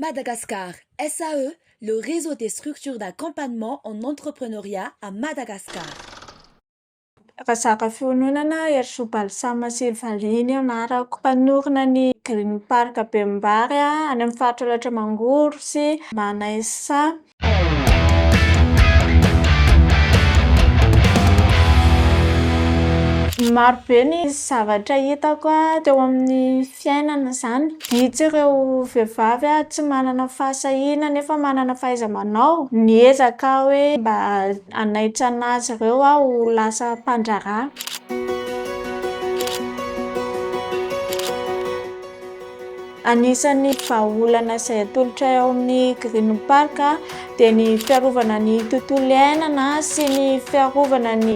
Madagascar SAE, le réseau des structures d'accompagnement en entrepreneuriat à Madagascar. Razakafiononana Herisoa Balsama sy Valihy ny anarako. Mpanorina ny Green Park Bemimbary any amin'ny faritra Alaotra Mangoro sy Manainsaha. Maro be ny zavatra hitako teo amin'ny fiainana izany. Vitsy ireo vehivavy tsy manana fahasahiana nefa manana fahaiza-manao. Miezaka aho hoe mba hanaitsana azy ireo aho ho lasa mpandraharaha. Anisan'ny vahaolana izay atolotray ao amin'ny Green Park dia ny fiarovana ny tontolo iainana sy ny fiarovana ny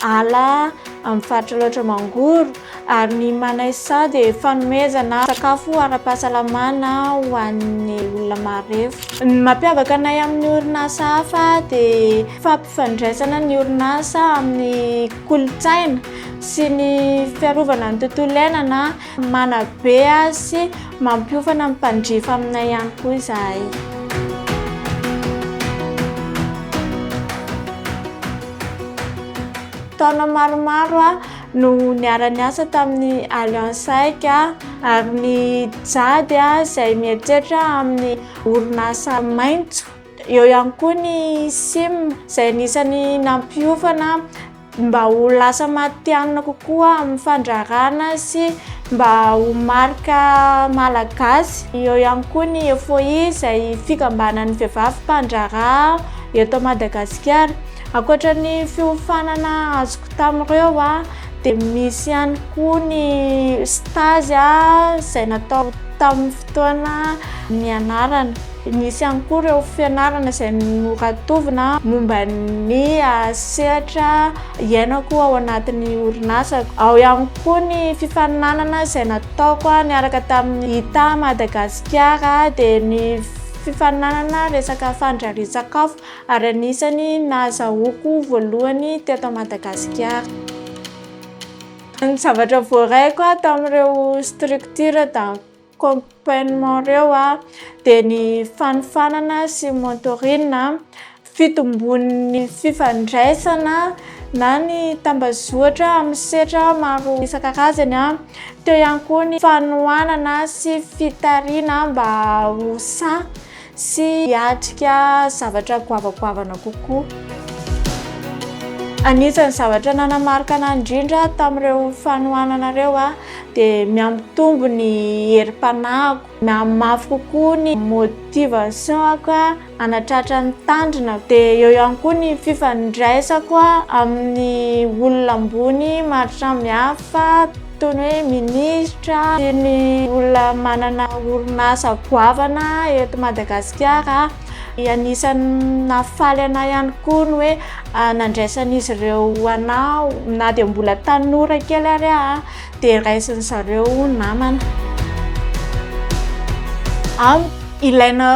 ala amin'ny faritra Alaotra Mangoro ary ny Manaisa dia fanomezana sakafo ara-pahasalamana ho an'ny olona marefo. Ny mampiavaka anay amin'ny orinasa hafa dia fampifandraisana ny orinasa amin'ny kolontsaina sy ny fiarovana ny tontolo iainana. Manabe azy sy mampiofana ny mpanjifa aminay ihany koa izahay. Taona maromaro aho no niara-niasa tamin'ny Alliance Aika ary nijady izay mieritreritra amin'ny orinasa maitso. Eo ihany koa ny sim izay anisan'ny nampiofana. mba ho lasa matihanina kokoa amin'ny fandraharahana sy mba ho marika malagasy. Eo ihany koa ny FOI izay fikambanan'ny vehivavy mpandraharaha eto Madagasikara. Ankoatra ny fiofanana azoko tamin'ireo dia misy ihany koa ny stage izay natao tamin'ny fotoana nianarana. Nisy ihany koa ireo fianarana izay noratovina momba ny sehatra iainako ao anatin'ny orinasako. Ao ihany koa ny fifaninanana izay nataoko niaraka tamin'ny Ita Madagasikara, dia ny fifaninanana resaka fandrarian-tsakafo, ary anisan'ny nahazahoako voalohany teto Madagasikara. Ny zavatra voaraiko tamin'ireo structures tamin'ny. accompagnement ireo dia ny fanofanana sy mentoring, fitombon'ny fifandraisana na ny tambazotra amin'ny sehatra maro isan-karazany, teo ihany koa ny fanohanana sy fitarina mba ho sahy Sy hiatrika zavatra goavagoavana kokoa. Anisan'ny zavatra nanamarika anà indrindra tamin'ireo fanohanana ireo dia mihampitombo ny herim-panahiko, mihamafy kokoa ny motivation-ko hanatratra ny tanjona, dia eo ihany koa ny fifandraisako amin'ny olona ambony maro samihafa. Toy ny hoe minisitra sy ny olona manana orinasa goavana eto Madagasikara. Anisan'ny nahafaly anà ihany koa ny hoe nandraisan'izy ireo anà na dia mbola tanora kely ary aho dia raisin'ny zareo ho namana. Amiko, ilaina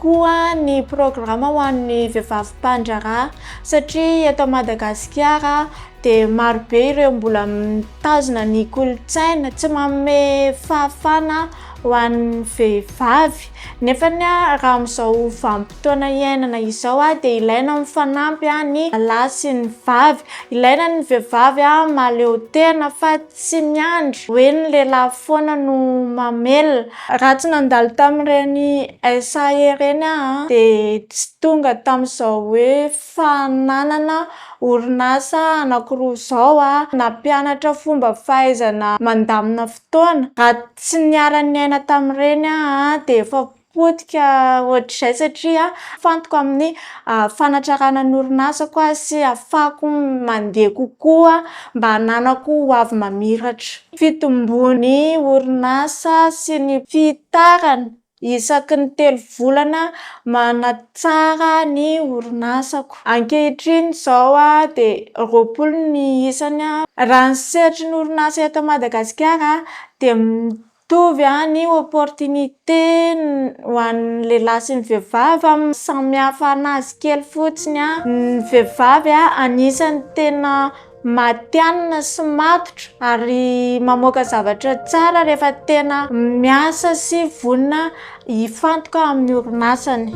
tokoa ny programa ho an'ny vehivavy mpandraharaha satria eto Madagasikara, dia marobe ireo mbola mitazona ny kolontsaina tsy manome fahafana ho an'ny vehivavy. Nefa raha amin'izao vanim-potoana iainana izao dia ilaina mifanampy ny lahy sy ny vavy. Ilaina ny vehivavy mahaleo tena fa tsy miandry hoe ny lehilahy foana no mamelona. Raha tsy nandalo tamin'ireny SA ireny aho dia tsy tonga tamin'izao hoe. Fananana orinasa anankiroa izao nampianatra fomba fahaizana mandamina fotoana. Raha tsy niara-niaina tamin'ireny aho dia efa potika ohatr'izay satria mifantoka amin'ny fanatrarana ny orinasako aho sy ahafahako mandeha kokoa mba hananako ho avy mamiratra. Fitomboan'ny orinasa sy ny fihitarany. Isaky ny telo volana manatsara ny orinasako. Ankehitriny izao dia roapolo ny isany. Raha ny sehatry ny orinasa eto Madagasikara dia mitovy ny opportunité ho an'ny lehilahy sy ny vehivavy, samy hafa an'azy kely fotsiny. Ny vehivavy anisan'ny tena matihanina sy matotra ary mamoaka zavatra tsara rehefa tena miasa sy vonona hifantoka amin'ny orinasany.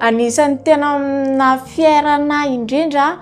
Anisan'ny tena naha fier anah indrindra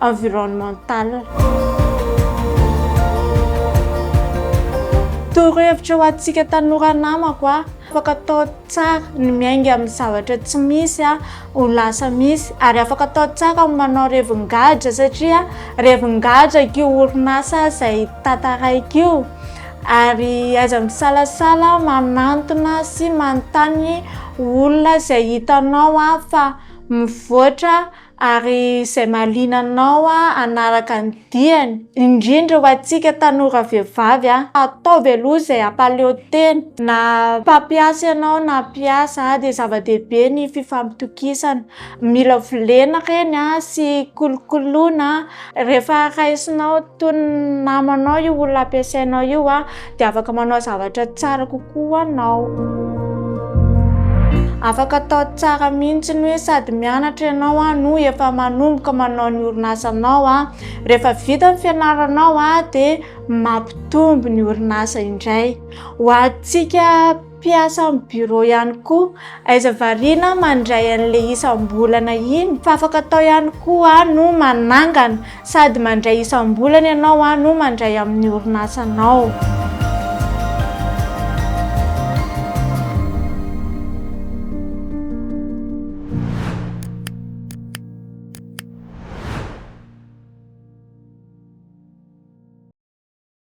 environnementale. Torohevitra ho antsika tanora namako a, afaka atao tsara ny miainga amin'ny zavatra tsy misy a, ho lasa misy ary afaka atao tsara ny manao revin-gadra satria revin-gadra io orinasa izay tantaraiko io ary aiza misalasala manantona sy manontany olona izay hitanao a fa mivoatra ary izay mahaliana anao hanaraka ny diany, indrindra ho antsika tanora vehivavy, ataovy aloha izay hampaleo tena, na mpampiasa ianao na mpiasa dia zava-dehibe ny fifampitokisana, mila volena ireny sy kolokoloina rehefa raisinao. toy ny namanao io olona ampiasainao io a dia afaka manao zavatra tsara kokoa anao afaka atao tsara mihitsy ny hoe sady mianatra ianao a no efa manomboka manao ny orinasanao a rehefa vita ny fianaranao a dia mampitombo ny orinasa indray ho antsika Mpiasa amin'ny bureau ihany koa. Aiza variana mandray an'le isam-bolana iny fa afaka atao ihany koa no manangana sady mandray isam-bolana ianao no mandray amin'ny orinasanao.